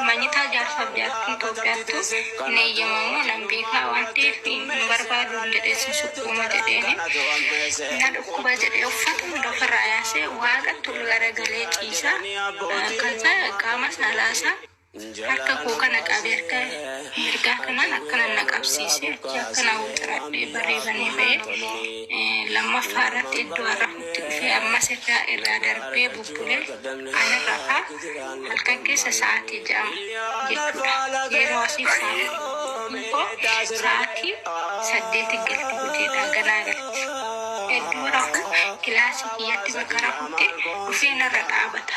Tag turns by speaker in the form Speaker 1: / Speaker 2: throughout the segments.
Speaker 1: Manyitaa jaarsaaf jaartii Itoophiyaattu hin eeyyamamu nan beekaa waan ta'eef hin barbaadu jedhee sin sukkuuma jedheen na dhukkuba jedhee uffata hunda ofirraa yaasee waaqatti ol garagalee ciisa. Kan qaama saalaasaa Harka koo kana qabe harka mirgaa kanaan akkanan na qabsiise achi akkanaa wixaradhee barree banee ba'ee lammaffaa irratti iddoo arrafutti dhufee ammas irraa irraa darbee bubbulee ani rafaa halkan keessa sa'aatii ja'a jechuudha yeroo asiif sa'aatiin koo sa'aatii saddeeti galti hojiidhaa ganaa galti iddoo rafuu kilaasii kiyyatti bakka rafutti dhufee narra dhaabata.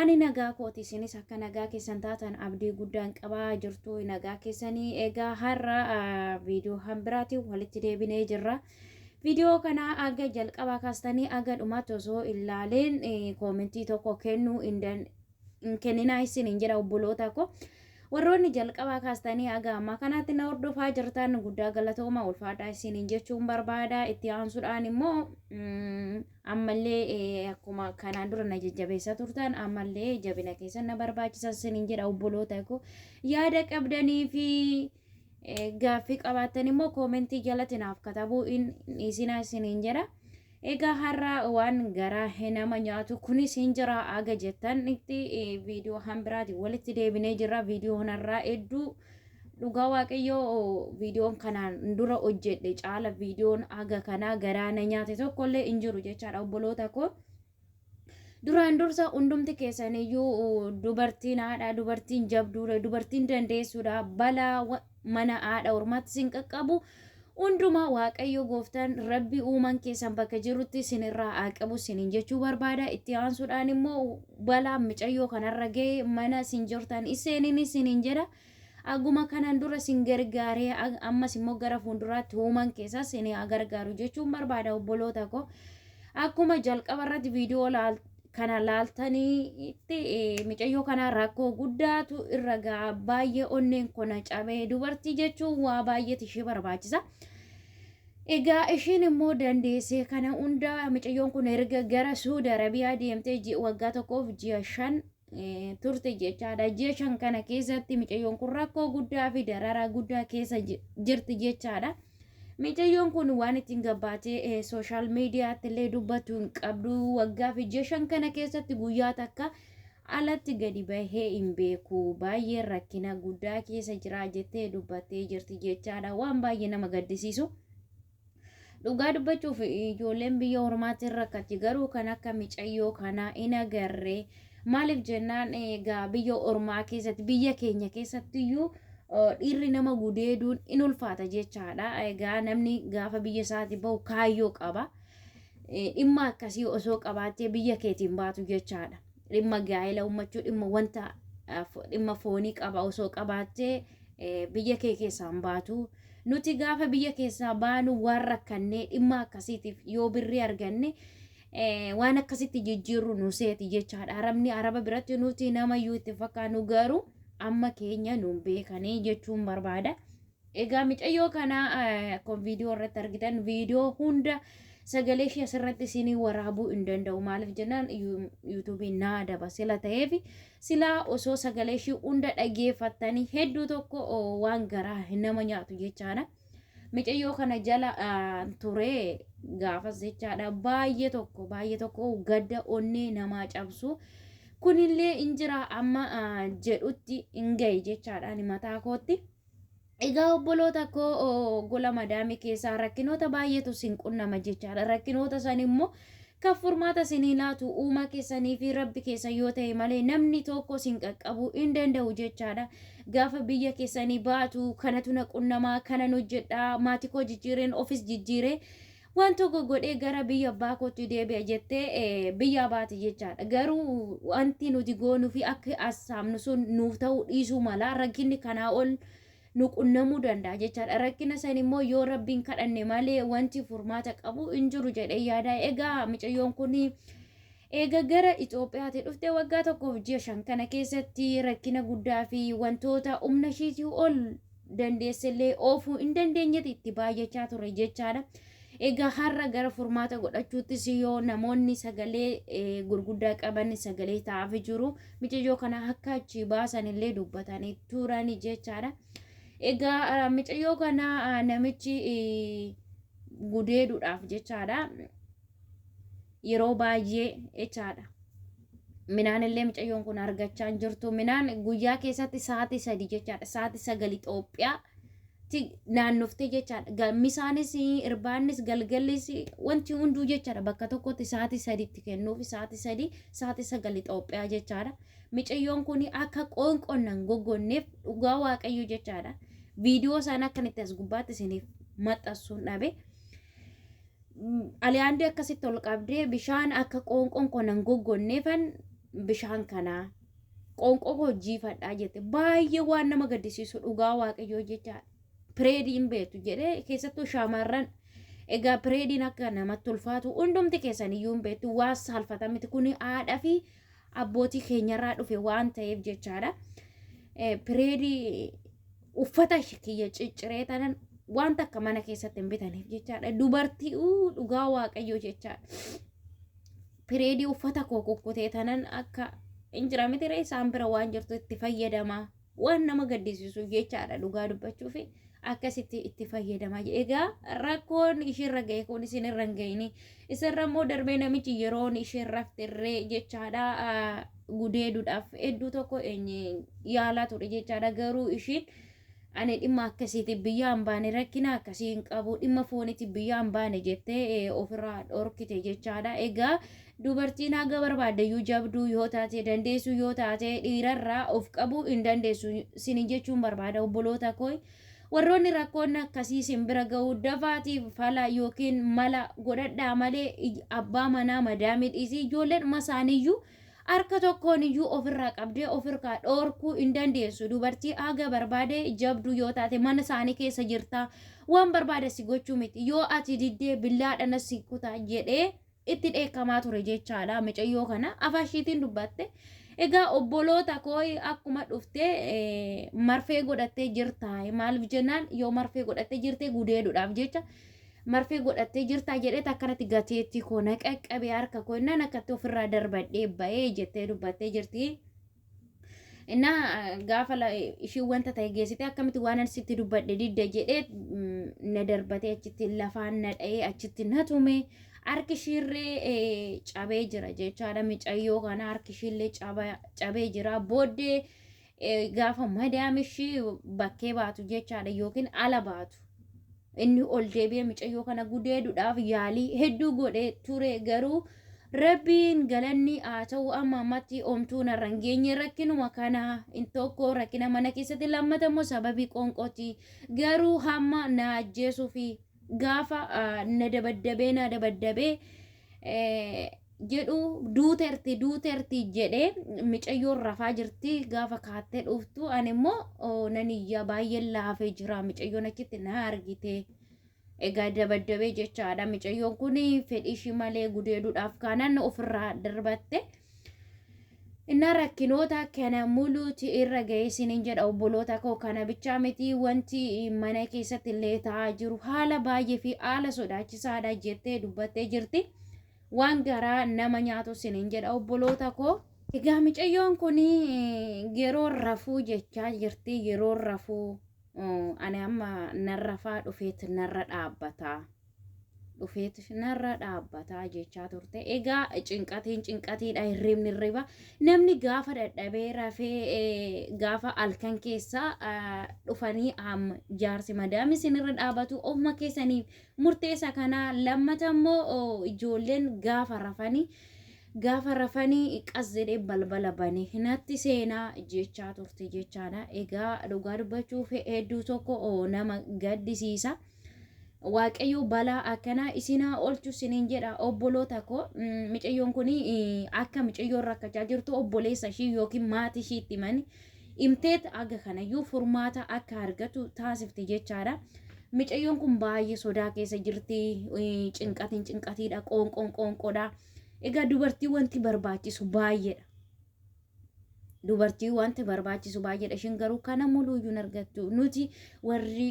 Speaker 2: Ani nagaa kooti isinis akka nagaa keessan taatan abdii guddaan qaba jirtu nagaa keessanii egaa har'a viidiyoo kan biraatiin walitti deebinee jirra. Viidiyoo kana aga jalqabaa kaastanii aga dhumaatti osoo ilaaleen koomentii tokko kennuu hin kenninaa isin hin jedha obboloota koo. Warroonni jalqabaa kaastanii aga ammaa kanaatti na hordofaa jirtan guddaa galatooma ulfaadhaa isin hin jechuun barbaada itti aansuudhaan immoo ammallee eh, akkuma kanaan dura na jajjabeessaa turtan ammallee jabina keessan na barbaachisa sinin jedha obboloota koo yaada qabdanii fi eh, gaaffii qabaattan immoo koomentii jalatti naaf katabuu in isinaa sinin jedha egaa har'a waan garaa he- nama nyaatu kunis hin jira aga jettan itti eh, viidiyoo hambiraati walitti deebinee jirra viidiyoo kanarraa hedduu Dhugaa waaqayyoo viidiyoon kanaan dura hojjedhe caala viidiyoon haga kanaa garaa na nyaate tokko illee hin jiru jechaadha obboloota koo. Duraan dursa hundumti keessaniyyuu dubartiin haadha, dubartiin jabduudha, dubartiin dandeessuudha, balaa wa- mana haadha ormaatti sin qaqqabu hundumaa waaqayyo gooftaan rabbi uuman keessan bakka jirutti sinirraa haa qabu sinin jechuu barbaada. Itti aansuudhaan immoo balaa micayyoo kanarra ga'e mana sin jirtan isseeniin isinin jedha. Akkuma kanaan dura sin gargaare, ammas immoo gara fuulduraatti human keessaa sin haa gargaaru jechuun barbaada obboloota koo. Akkuma jalqaba irratti viidiyoo laal- kana laaltanitti eh, micayyoo kana rakkoo guddaatu irra ga'a baay'ee onneen kona cabee dubartii jechuun waa baay'eetu ishee barbaachisa. Egaa ishiin immoo dandeessee kana hunda micayyoon kun erga gara Suudi Arabiyaa deemtee ji- waggaa tokkoof ji'a shan turte jechaadha. Ji'a shan kana keessatti micayyoon kun rakkoo guddaa fi dararaa guddaa keessa jirti jechaadha. Micayyoon kun waan ittiin gabbaatee sooshaal miidiyaatti illee dubbatu hin qabdu. Waggaa fi ji'a shan kana keessatti guyyaa takka alatti gadi bahee hin beeku. Baay'ee rakkina guddaa keessa jira jettee dubbattee jirti jechaadha. Waan baay'ee nama gaddisiisu. Dhugaa dubbachuuf ijoolleen biyya ormaatti hin rakkatti garuu kan akka micayyoo kanaa hin agarre maaliif jennaan egaa biyya ormaa keessatti biyya keenya keessatti iyyuu dhiirri nama gudeeduun in ulfaata jechaadha egaa namni gaafa biyya isaati bahu kaayyoo qaba dhimma akkasii osoo qabaattee biyya keetiin baatu jechaadha. dhimma gaa'ela uummachuu dhimma wanta dhimma foonii qaba osoo qabaattee biyya kee keessaan baatu. Nuti gaafa biyya keessaa baanu waan rakkannee dhimma akkasiitiif yoo birrii arganne waan akkasitti jijjiirru nu seeti jechaadha. Arabni araba biratti nuti nama iyyuu itti fakkaannu garuu amma keenya nuun beekanii jechuun barbaada. Egaa micayyoo kana akkuma viidiyoo irratti argitan viidiyoo hunda sagalee ishee asirratti isinii waraabuu hin danda'u maaliif jennaan yuutuubiin naa adaba sila ta'eef silaa osoo sagalee ishee hunda dhageeffattanii hedduu tokko waan garaa nama nyaatu jechaadha. Micayyoo kana jala turee gaafas jechaadha baay'ee tokko baay'ee tokko gadda onnee namaa cabsu. Kunillee hin jira amma jedhutti hin gahe jechaadha mataa kootti. Egaa obboloota koo oo, gola madaamii keessaa rakkinoota baay'eetu sin qunnama jechaadha. Rakkinoota san immoo kan furmaata sinii laatu uumaa keessanii fi rabbi keessan yoo ta'e malee namni tokko sin qaqqabuu hin danda'u jechaadha. Gaafa biyya keessanii baatu kanatu na qunnamaa kanan hojjedhaa maatii koo jijjiireen ofis jijjiiree Waan tokko godhee gara biyya abbaa kootti deebi'a jettee eh, biyya abaati jechaadha. Garuu wanti nuti goonuu fi akka as saamnu sun nuuf ta'uu dhiisuu mala. Rakkinni kanaa ol nu qunnamuu danda'a jechaadha. Rakkina san immoo yoo rabbiin kadhanne malee wanti furmaata qabu hin jiru jedhee yaada. Egaa micayyoon kun eega gara Itoophiyaatti dhufte waggaa tokkoof ji'a shan kana keessatti rakkina guddaa fi wantoota humna ishiitii ol dandeessellee oofuu hin dandeenyetti itti baay'achaa ture jechaadha. Egaa har'a gara furmaata godhachuuttis yoo namoonni sagalee eh, gurguddaa qaban sagalee ta'aaf jiru micayyoo kana akka achi baasan illee dubbatanii turan jechaadha. Egaa ah, micayyoo kana ah, namichi eh, gudeeduudhaaf jechaadha. yeroo baay'ee jechaadha. Minaan illee mucayyoon kun argachaa hin jirtu. Minaan guyyaa keessatti sa'aatii sadii jechaadha. Sa'aatii sagal Itoophiyaa naannoftee jechaadha. Gammisaanis irbaannis galgallis wanti hunduu jechaadha. Bakka tokkotti sa'aatii sadiitti kennuufi sa'aatii sadii sa'aatii sagal Itoophiyaa jechaadha. Mucayyoon kun akka qoonqonnan goggonneef dhugaa waaqayyo jechaadha. Viidiyoo isaan akkan itti as gubbaatti isiniif maxxansuun dhabe. Aliyaandee akkasitti ol qabdee bishaan akka qoonqoon koo nan goggonneefan bishaan kanaa qoonqoo koo jiifadhaa jette baay'ee waan nama gaddisiisu dhugaa waaqayyoo jecha pireedii hin beektu jedhee keessattuu shaamarran egaa pireediin akka namatti ulfaatu hundumti keessan iyyuu hin beektu waan saalfata miti kun haadha fi abbootii keenyarraa dhufe waan ta'eef jechaadha. Eh, Pireedii uffata kiyya cicciree tanan wanta akka mana keessatti hin bitaneef jechaadha. Dubartii uu dhugaa waaqayyoo jechaadha. Pireedii uffata koo kukkutee tanan akka hin jira miti ree isaan bira waan jirtu itti fayyadama. Waan nama gaddisiisuuf jechaadha dhugaa dubbachuuf akkasitti itti fayyadama. Egaa rakkoon ishiirra ga'e kun isinirra hin ga'ini. Isarra immoo darbee namichi yeroon isheen rafte irree jechaadha gudeeduudhaaf hedduu tokko yaalaa ture jechaadha garuu ishiin ani dhimma akkasiiti biyyaa hin baane rakkina akkasii hin qabu dhimma fooniti biyyaa hin baane jettee ofirraa dhorkite jechaadha egaa dubartiin haga barbaaddeyyuu jabduu yoo taate dandeessu yoo taate dhiirarraa of qabuu hin dandeessu sinin jechuun barbaada obboloota koo Warroonni rakkoon akkasii isin bira ga'u dafaatii fala yookiin mala godhadhaa malee ij- abbaa manaa madaamii dhiisii ijoolleedhuma isaaniiyyuu harka tokkoon iyyuu ofirraa qabdee ofirraa dhoorkuu hin dandeessu. Dubartii haga barbaade jabduu yoo taate mana isaanii keessa jirtaa waan barbaade si gochuu miti. Yoo ati diddee billaadhaan si kutaa jedhee itti dheekkamaa ture jechaadha micayyoo kana afaan ishiitiin dubbatte egaa obboloota koo akkuma dhuftee eh, marfee godhattee jirta maaliif jennaan yoo marfee godhattee jirte gudeeduudhaaf jecha marfee godhattee jirta jedheet akkanatti gateettii koo na qaqqabee harka koo innaan akkatti ofirraa darbadhee ba'ee jettee dubbattee jirti. እና gaafa la- ishii wanta ta'e geessite akkamitti waan ani sitti dubbadhe didda jedhee mm, na darbatee achitti lafaan na dha'ee achitti na tume harki ishiirree eh, cabee jira jechaadha micayyoo kana harki ishiillee caba- cabee jira booddee eh, gaafa madaam ishii bakkee baatu jechaadha yookiin ala baatu Inni ol deebi'ee micayyoo kana gudeeduudhaaf yaalii hedduu godhee ture garuu Rabbiin galanni haa ta'u amma ammatti omtuu narra hin geenye rakkinuma kana in tokko rakkina mana keessatti lammata immoo sababii qoonqooti garuu hamma na ajjeesuu fi gaafa na dabaddabee na dabaddabee jedhu duuterti duuterti jedhee micayyoon rafaa jirti gaafa kaattee dhuftu ani immoo oo, nan iyyaa baay'een laafee jira micayyoon achitti na argite egaa dabaddabee jechaadha micayyoon kun fedhii ishii malee gudeeduudhaaf kaanaan ofirraa darbatte innaa rakkinoota kana muluuti irra ga'eessiniin jedha obboloota koo kana bichaa miti wanti mana keessatti illee ta'aa jiru haala baay'ee fi haala sodaachisaadha jettee dubbattee jirti. waan garaa nama nyaatu sinin jedha obboloota koo. Egaa micayyoon kun yeroo rafuu jechaa jirti yeroo rafuu ani amma nan rafaa dhufeet narra dhaabbata. Dhufeet narra dhaabbata jechaa turte. Egaa cinqatiin cinqatiidha hirribni hirriba. Namni gaafa dadhabee rafee gaafa halkan keessa dhufanii jaarsi madaami sinirra dhaabatu ofuma keessaniif Murteessa kana lammata immoo ijoolleen gaafa rafani gaafa rafani qas jedhee balbala bane natti seena jechaa turte jechaadha. Egaa dhugaa dubbachuuf hedduu tokko nama gaddisiisa. Waaqayyo balaa akkanaa isin haa oolchu sinin jedha obboloota koo micayyoon kun akka micayyoon rakkachaa jirtu obboleessa ishii yookiin maatii ishiitti mani Imteet haga kanayyuu furmaata akka argatu taasifte jechaadha. Micayyoon kun baay'ee sodaa keessa jirti. Cinqatiin cinqatiidha. Qoonqoon qoonqoodha. Egaa dubartii wanti barbaachisu baay'eedha. Dubartii wanti barbaachisu baay'eedha. Ishiin garuu kana muluuyyuu hin argattu. Nuti warri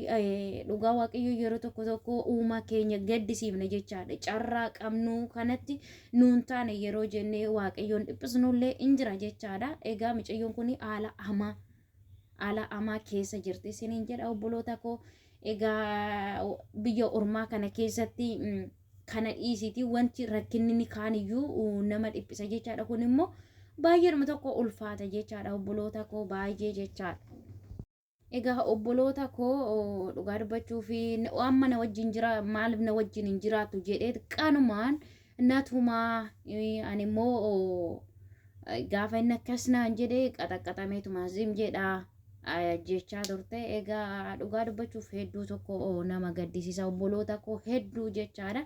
Speaker 2: dhugaa waaqayyoo yeroo tokko tokko uumaa keenya gaddisiifna jechaadha. Carraa qabnu kanatti nuun taane yeroo jennee waaqayyoon dhiphisnullee in jira jechaadha. Egaa micayyoon kun haala hamaa haala hamaa keessa jirti isiniin jedha obboloota koo. Egaa biyya ormaa kana keessatti mm, kana dhiisiti wanti rakkinni ni kaaniyyuu uh, nama dhiphisa jechaadha. Kun immoo baay'eedhuma tokko ulfaata jechaadha obboloota koo baay'ee jechaadha. Egaa obboloota koo dhugaa dubbachuuf amma na wajjin jira maaliif na wajjin hin jiraatu jedhee qanumaan natumaa ani immoo gaafa inni akkas naan jedhe qaxaqqaxameetuma zim jedha jechaa turte egaa dhugaa dubbachuuf hedduu tokko nama gaddisiisa obboloota koo hedduu jechaadha.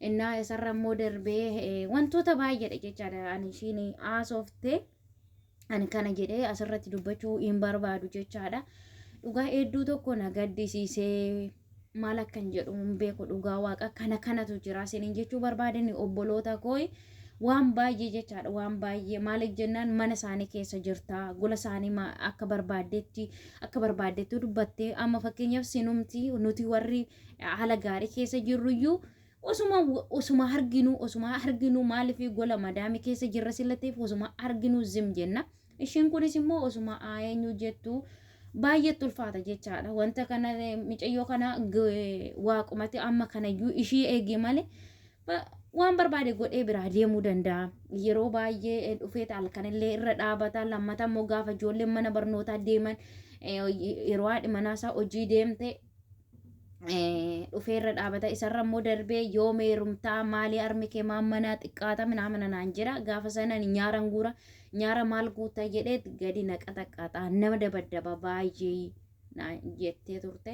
Speaker 2: Innaa isarra immoo darbee wantoota baay'eedha jechaadha ani ishiin haasoftee. ani kana jedhee asirratti dubbachuu hin barbaadu jechaadha. Dhugaa hedduu tokko na gaddisiisee maal akkan jedhu hin beeku dhugaa waaqa kana kanatu jira isiniin jechuu barbaadani obboloota kooyi waan baay'ee jechaadha waan baay'ee maaliif jennaan mana isaanii keessa jirta gola isaanii ma- akka barbaaddetti akka barbaaddetti dubbatte amma fakkeenyaaf sinumti nuti warri haala gaarii keessa jirruyyuu Osuma osuma arginu osuma arginu maaliif gola madaami keessa jirra sila ta'eef osuma arginu zim jenna. Ishiin kunis immoo osuma eenyu jettu baay'eetti ulfaata jechaadha. Wanta kana micayyoo kana waaqumatti amma kanayyuu ishii eegi malee waan barbaade godhee biraa deemuu danda'a. Yeroo baay'ee dhufee halkanillee irra dhaabata. Lammata immoo gaafa ijoolleen mana barnootaa deeman yeroo haadhi manaasaa hojii deemte dhufee irra dhaabata isarra immoo darbee yoo meerumtaa maalii armi kee maammanaa xiqqaata minaamana naan jedha gaafa sanan nyaaran guura nyaara maal guuta jedhee gadi naqa taqqaata nama dabaddaba baay'ee naan jettee turte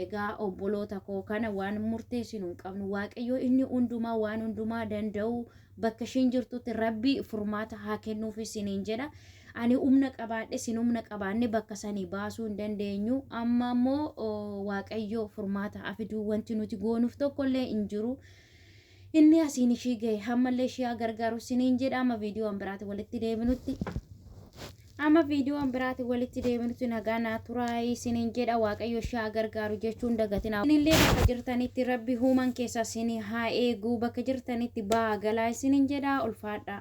Speaker 2: egaa obboloota koo kana waan murteessinu hin qabnu waaqayyoo inni hundumaa waan hundumaa danda'u bakka ishiin jirtutti rabbi furmaata haa kennuuf isiniin jedha ani humna qabaadhe isin humna qabaanne bakka sanii baasuu hin dandeenyu amma ammoo oo, waaqayyo furmaata afiduu wanti nuti goonuuf tokkollee hin jiru inni asiin ishii gahe hammallee ishii haa gargaaru isiniin jedha amma viidiyoo biraatiin walitti deebinutti Amma viidiyoon biraatiin walitti deebinutti nagaa naa turaa isiniin jedha waaqayyo shaa gargaaru jechuun dagatina. Isinillee bakka jirtanitti rabbi human keessa isin haa eegu bakka jirtanitti baa galaa isiniin jedha ulfaadhaa.